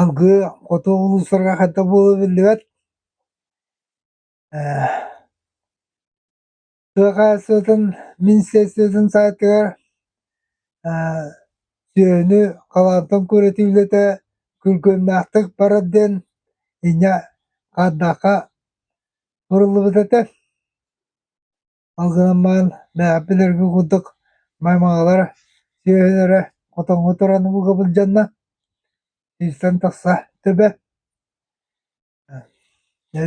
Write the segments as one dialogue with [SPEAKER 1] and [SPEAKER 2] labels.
[SPEAKER 1] Алгыы хоту улуустарга ханта буолуо биллибэт сыаха сытын министерствотын саайтыгар сүөһүнү халаантан көрүтүү үлэтэ күргүөмнээхтик барар диэн инньэ хаандаахха суруллубут этэ Ол гынан баран бэйэбин эргэ курдук маймаҕалар сүөһүлэрэ хотоҥҥо туран ууга былдьанна, иирсэн тахса төбө.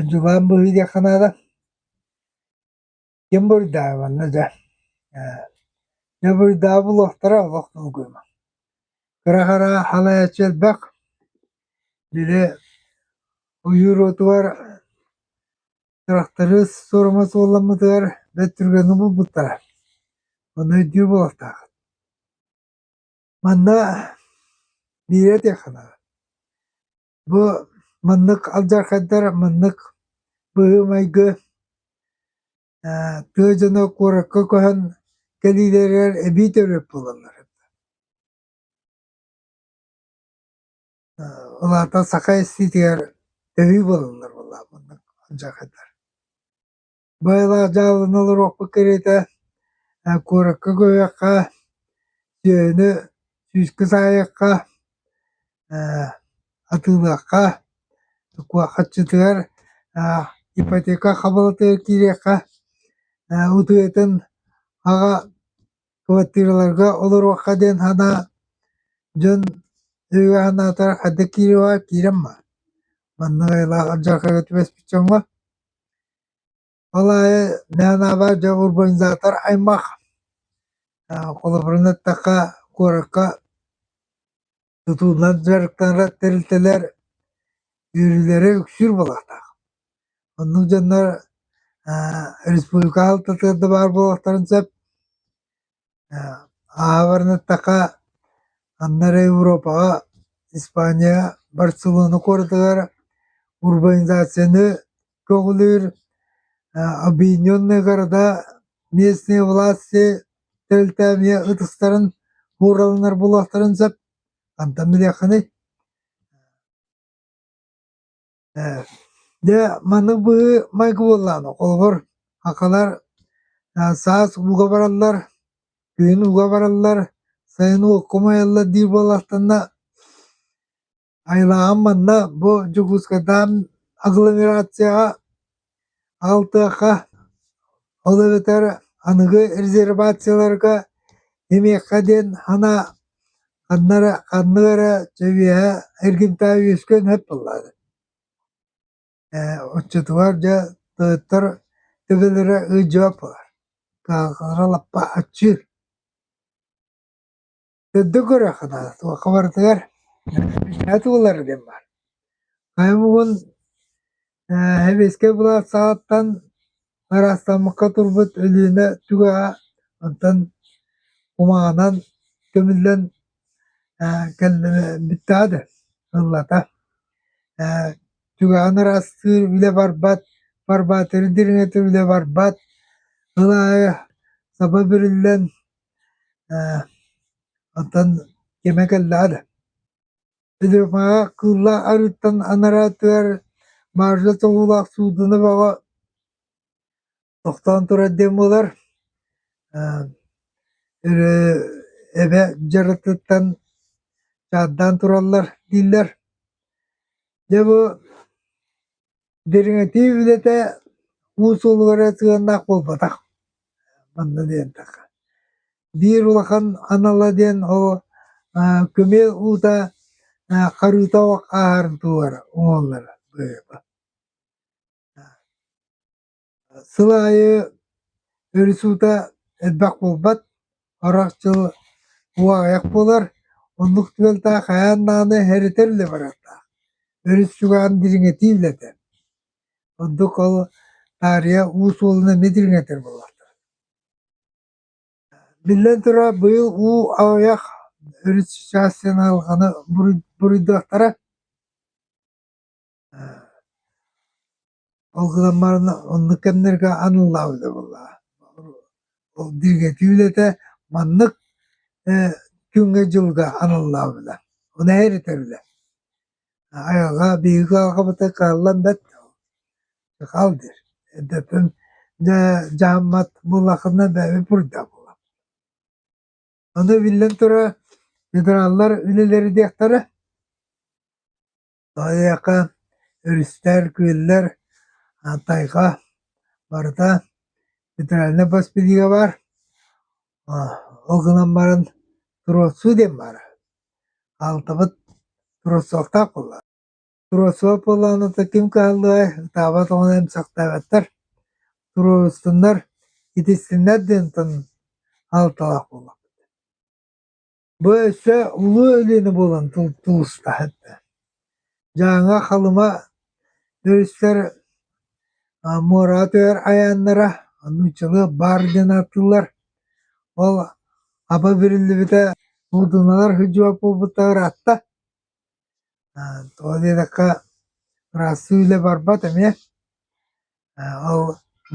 [SPEAKER 1] дьулаан быһыы диэххэ наада. Ким буруйдаабанна дьэ. Дьэ буруйдаабыллахтара олох долгуйма. Кыра-хара халайаччы элбэх. Били ойуур уотугар Тырахтары суорума суолламмытыгар бөттүрүгэни булбуттара, онно өйдүү буолуохтаах Манна биирэ этиэххэ Бу маннык алдьархайдар маннык быһыы-майгы тыа дьоно куоракка көһөн кэлиилэригэр эбии төрүөт буолаллар. Улаатан саха эстиитигэр төһүү буолаллар буоллаҕа маннык дьаахайдар. Быйылаах дьааланы олоруохпут кэриэтэ, куоракка көһүөххэ, дьиэни сүүскэ саайыахха, атыылыахха, куораччытыгар ипотека хабалатыгар киириэххэ, утуйатын аҕа квартираларга олоруохха диэн санаа дьон өйө санаатар ханнык киириэҕэ киирэн ма маннык айылаах алдьархайга түбэспит дьоҥҥо ол аайы нанаба дьэ урбанизатор аймах холобурунан эттэххэ куоракка тутуунан дьарыктанар тэрилтэлэр үөрүүлэрэ үксүүр буолуохтаах. Оннук дьоннор республика аһалтатыгар да баар буолуохтарын сөп. Ааҕарын эттэххэ, анна Европаҕа, Испанияҕа, Барселона куоратыгар урбанизацияны көҕүлүүр объединенные города местные власти тэрилтэ эмиэ ытыстарын уураланар буолуохтарын сөп хантан билиэххиний дьэ маннык быһыы майгы буоллаҕына холобур хахалар саас ууга бараллар күһүн ууга бараллар сайын уокка умайаллар диир буоллахтанна Айылааҕым манна бу Дьокуускайдаан агломерацияҕа аҕалтыахха, ол эбэтэр аныгы резервацияларга эмиэххэ диэн хана ханна эрэ ханнык эрэ чэбиэһэ эргимтээ үөскүөн сөп буоллаҕа. Э, оччотугар дьэ тойоттор төбөлөрө ыдьыап баар. Хаалара лаппа аччыыр. Дөдө көрөххүнэ туохха барытыгар мичинэ туолара диэн баар. Хайа бугун ээ сэбиэскэй былаат саҕаттан ыраастаммакка турбут Өлүөнэ түгэҕэ онтон кумааҕынан көмүллэн ээ кэллэ бүттэҕэ да ыллата ээ түгэҕин ыраастыыр үлэ барбат, барбаатыры дириҥэтэр үлэ барбат, ыл аайы саба бүрүллэн Ээ, онтон кимэ кэллэҕэ да Люмаҕа кыылла арыыттан анараатыгар Маржа тоҥуулаах Суудуна бөҕө тохтоон турар диэн буолар. Ээ, өрө эбэ дьарыктыттан чаардаан тураллар дииллэр. Дьэ бу Дириҥэтии үлэтэ уус улугара сыһыаннаах буолбатах. Манна диэнтэххэ. Биир улахан анала диэн ол аа күмүө уута аа харыыта ааһарын туһугар оҥоһуллара быһыыба. Сыл аайы өрүс уута элбэх буолбат, харах дьыл уу аҕыйах буолар, оннук тыалтаах хайаан даҕаны эһэритэр үлэ барыахтаах. Өрүс чугаһын дириҥэтии үлэтэ. Ордук ол таарыйа уу суолун эмиэ дириҥэтэр буоллахтар. Биллэн турар, быйыл уу аҕыйах, өрүс чассыйан аһылҕаны буруй- буруйдуохтара. Ол гынан баран оннук кэмнэргэ аналлаабыта буоллаҕа. Ол диригэтии үлэтэ маннык э, күҥҥэ-дьылга аналлаабыта. Ону эһэритэр үлэ. Айылҕа, биһиги айылҕабытыгар кыаллан бэрт Сахал дир. Эдэтин дьааммат буллахына бэйэ пурда була. Аны биллэн турар, федераллар үлэлери диэхтэрэ. Айыаха өрүстэр, күөллэр, тайга барыта федеральнай бас билиигэ баар. Ол гынан баран Туруорсуу диэн баар. Аалтабыт Туруорсуохтаах буолла. Туруорсуох буоллаҕына ким кыһаллыай, ытаабат оҕону эмсэхтээбэттэр. Туруорсуннар, итистиннэр диэн алталаах буоллахпыт. Бу өссө улуу өлүөнэ буолан тулустаһыт да. Дьааҥы, Халыма өрүстэр муоратыгар айааннара, нууччалыы баар диэн ааттыыллар. Ол аба бириллибитэ муудуналар сыдьуот буолбуттара ыраатта. Ол диэтэххэ ыраастыы үлэ барбат эмиэ. Ол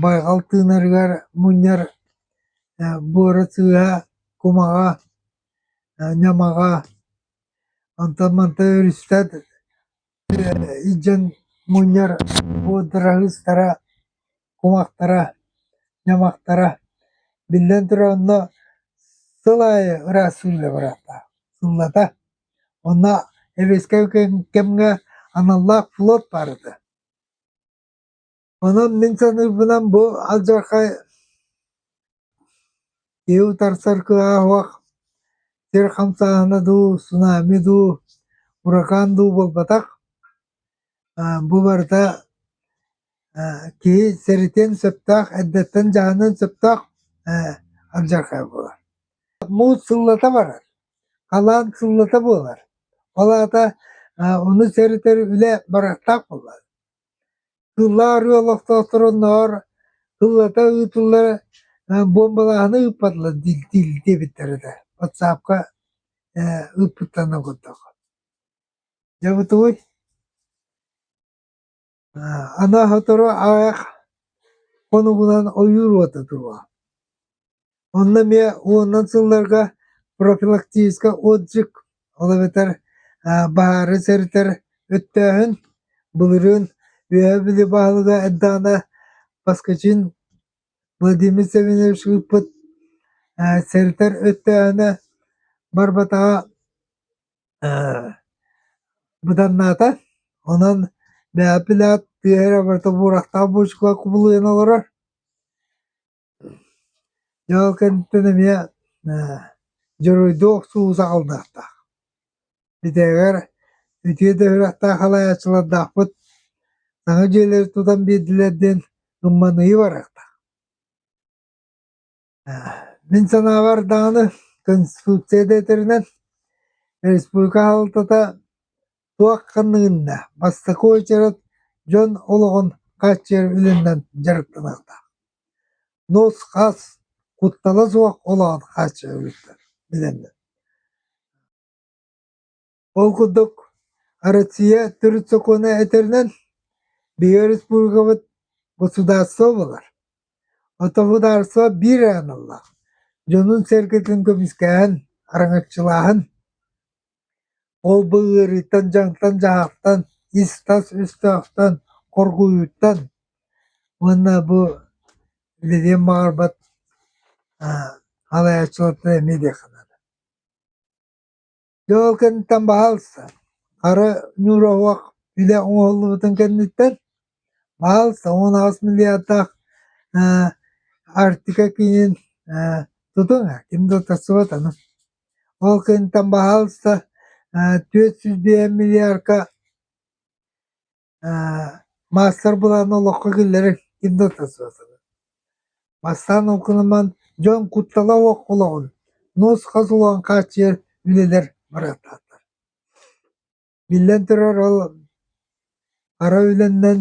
[SPEAKER 1] байҕал тыынарыгар мунньар буора сыыһа, кумаҕа, ньамаҕа, онтон манта өрүстэр илдьэн мунньар буодураһыыстара, кумахтара, ньамахтара. Биллэн турар онно сыл аайы ыраас сылдьа бараахтаах, сыллата. Онно эбэскэм кэмҥэ аналлаах флот баар этэ. Онон мин саныырбынан бу алдьархай киһи утарсар кыаҕа суох сир хамсааһына дуу, цунами дуу, уракаан дуу буолбатах. Бу барыта киһи сэрэтиэн сөптөөх, эрдэттэн дьаһаныан сөптөөх алдьархай буолар. Муус сыллата барар, халаан сыллата буолар. Ол аата ону сэрэтэр үлэ барахтаах буолар. Сыллаа арыалахтоохторо наар сыллата ыытыллар буомбалааһыны ыыппатылар диэбиттэр этэ ватсаапка ыыппыттарынан курдук дьэ бутуй анаа сотору аах хонугунан ойуур уота туруо Онно эмиэ уонунан сылларга профилактическа отдых, ол эбэтэр баһаары сэрэтэр өттөөһүн, былырыын үөһэ били баһылыга эттэҕинэ Поскачин Владимир Савельевич ыыппыт сэрэтэр өттөөһүнэ барбатаҕа быданнаата. Онон бэйэ пилат тыа эрэ барыта буурахтаах буучукалар кубулуйан олорор. Дьэ ол кэнниттэн эмиэ ээ дьоруойдуу охсуу саҕаланыахтаах. Идэҕэр үтүө да ыһыахтаах салайааччылардаахпыт саҥа дьиэлэри тутан биэрдилэр диэн гымманыйыы барыахтаах. Мин санаабар даҕаны Конституция да этэринэн республика хаһалтата туох ханныгынна бастакы уочарат дьон олоҕун хааччыйар үлэнэн дьарыктаныахтаах нос хас куттала суох олоҕун хааччыйар үлэттэн билэллэр ол курдук россия төрүт сокуона этэринэн биһиги республикабыт государство буолар отопудаарство биир аналлаах дьонун-сэргэтин көмүскэһэн араҥаччылааһын Ол-бу ыарыыттан дьаҥтан-дьаһахтан, ис-тас өстөөхтөн, хоргуйууттан уонна бу билиэн баҕарбат халаайаччылартан эмиэ диэххэ наада. Дьэ ол кэнниттэн баһаалыста хара ньуура оһох илэ оҥоһуллубутун кэнниттэн баһаалыста уон аҕыс миллиардаах Арктика киинин тутуҥ а ким да утарсыбат аны Ол кэнниттэн баһаалыста түөрт сүүс биэс миллиарка маастар-былааны олоххо киллэрэр ким да тахсыа суоҕа. Бастаан онкунуман дьон куттала суох олоҕун нуус-хас улахан хааччыйар үлэлэр барааттаахтар. Биллэн турар ол ара үлэнэн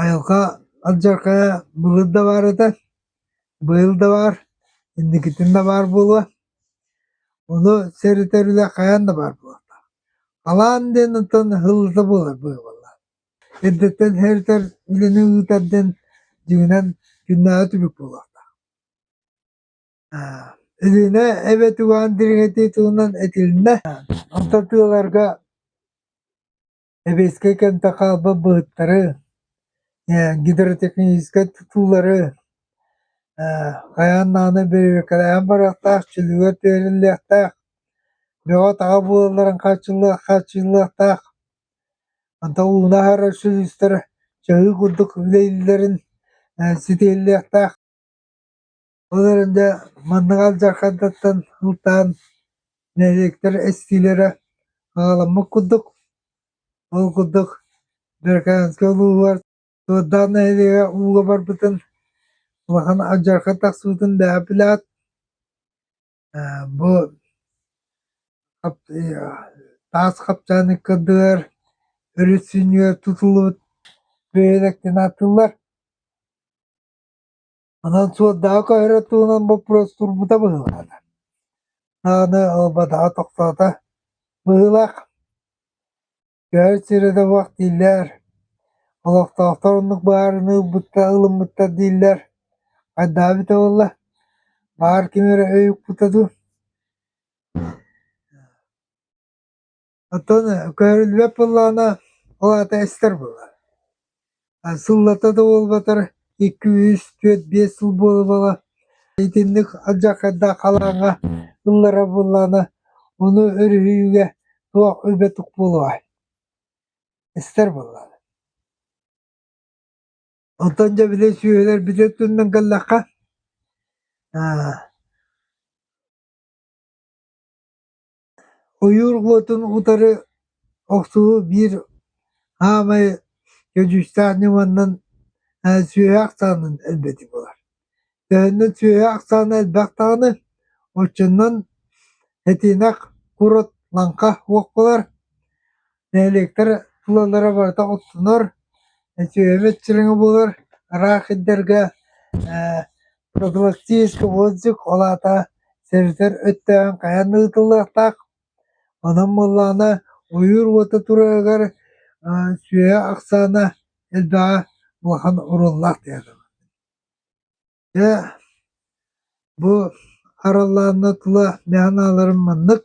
[SPEAKER 1] Айылҕа алдьархайа былыр да баар этэ, быйыл да баар, инникитин да баар буолуо. Ону сэрэтэр үлэ хайаан да баар буолуохтаах. Халаан диэн оттон ыһыллыта буолар быыбалла. Эрдэттэн һэритэр үлэни ыытар диэн дьиҥинэн күннээҕи түбүк буолуохтаах. Өлүөнэ эбэт угаан дириҥэтии туһунан этилиннэ. Онто тыаларга Сэбиэскэй кэмтэ хаалбыт быһыттары, э, гидротехническай тутуулары, э, хайаан даҕаны бэрээдэкэлээн барыахтаах, чөлүгэр түһэриллиэхтээх, бөҕө-таҕа буолалларын хааччыллыах хааччыйыллыахтаах. Онтон ууна аһарар сүлүстэр чаһыы курдук үлэлииллэрин э, ситиһиллиэхтээх. Ол эрэн маннык алдьархантан ылтаан нэһилиэктэр эстиилэрэ аҕаламмыт курдук. Ол курдук Берканскай улууһугар Туордаах нэһилиэгэ ууга барбытын улахан алдьархан тахсыбытын дэһэпилээт бу таас хапчааны кырдыгар өрүс сүнньүгэр тутуллубут бөһүөлэктэн ааттыыллар. Онон суолдаҕа көһөрөр туһунан боппуруос турбута быһыылаах. Даҕаны ылбатаҕа тохтоото. Быһыылаах. Көһөр сирэ да буох дииллэр. Олохтоохтор оннук баарын ылбыттар, ылыммыттар дииллэр. Хайдаа эбитэ буолла? Баар ким эрэ өй укпута дуу? Оттон көрүллүбэт былаана ол аата эстэр буолар. А сыллата да буолбатар икки, үс, түөрт, биэс сыл буолбала итинник алдьархайдаах халааҥҥа ылларар былаана ону өрүһүйүүгэ туох үлбэтик буолуой? Эстэр буоллар. Оттон дьэ били сүөһүлэр били өттүнэн кэллэххэ аа Ойуур уотун утары охсуһуу биир аамай көдьүүстээх ньыманан сүөһү ахсаанын элбэтии буолар. Төһөннөн сүөһү ахсаана элбэх даҕаны, оччонон этиэнэх курорт лаҥха уох буолар. Нэһилиэктэр тулалара барыта оттонор, үтүөмэт сириҥэ буолар, ыраах сирдэргэ ээ профилактическай отзыв, ол аата сэрэтэр өттөөн хайаан да ыытыллыахтаах. Онон буоллаҕына ойуур уота тураыгар аа сүөһү ахсаана элбэҕэ улахан оруннаах диэтэ. Дьэ бу араллаанна тула мээнэ аналарым маннык.